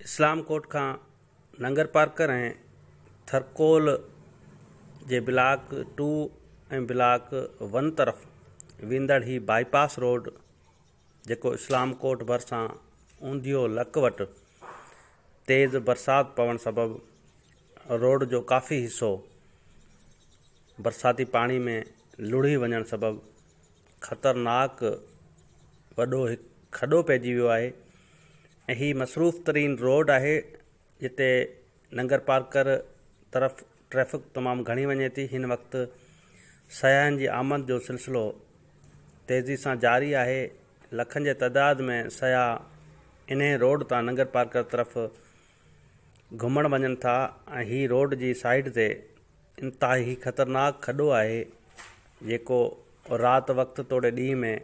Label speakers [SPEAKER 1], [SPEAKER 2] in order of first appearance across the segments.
[SPEAKER 1] اسلام ڪوٽ کان ننگرپارڪر ۽ ٿرڪول جي بلاڪ ٽو ۽ بلاڪ ون طرف ويندڙ هي بائي پاس روڊ جيڪو اسلام ڪوٽ ڀرسان اونديو لڪ وٽ تيز برسات پوڻ سبب روڊ جو ڪافي حصو برساتي پاڻي ۾ لڙهي وڃڻ سبب خطرناڪ وڏو هڪ کڏو پئجي ويو آهي ۽ هي مصروف ترين روڊ آهي جتي ننگرپارڪر طرف ٽريفڪ تمام گهڻي وڃي ٿي هن وقت سياحن جي آمد جو سلسلو تيزي سان جاري آهي لکن جي تعداد ۾ سياح انهي روڊ تان ننگرپارڪر طرف گهمڻ وڃن ٿا ۽ هي روڊ جي سائيڊ تي انتهائي خطرناڪ کڏو آهي جيڪو رات وقت توڙي ڏينهن ۾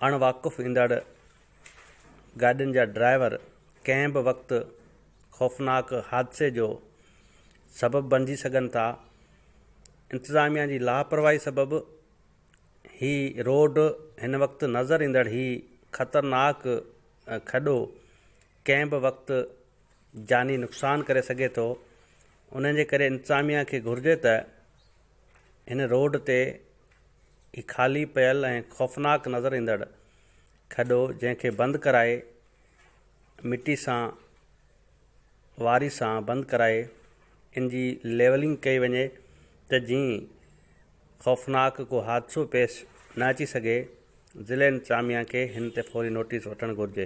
[SPEAKER 1] اڻ واقف ايندڙ گاڏين جا ڊرائيور ڪنهن به وقت خوفناڪ حادثي جو سبب بڻجي سگهن ٿا، انتظاميا جي لاپرواهي سبب هي روڊ هن وقت نظر ايندڙ هي خطرناڪ کڏو ڪنهن به وقت جاني نقصان ڪري سگهي ٿو، انهن جي ڪري انتظاميا کي گهرجي ته هن روڊ تي هي خالي پيل ۽ خوفناڪ نظر ايندڙ کڏو جنهن کي بند ڪرائي مٽي سان واري سان بند ڪرائي ان جي ليولنگ ڪئي وڃي ته جيئن خوفناڪ ڪو حادثو پيش نه اچي سگهي ضلعي انتظاميا کي هن تي فوري نوٽيس وٺڻ گهرجي.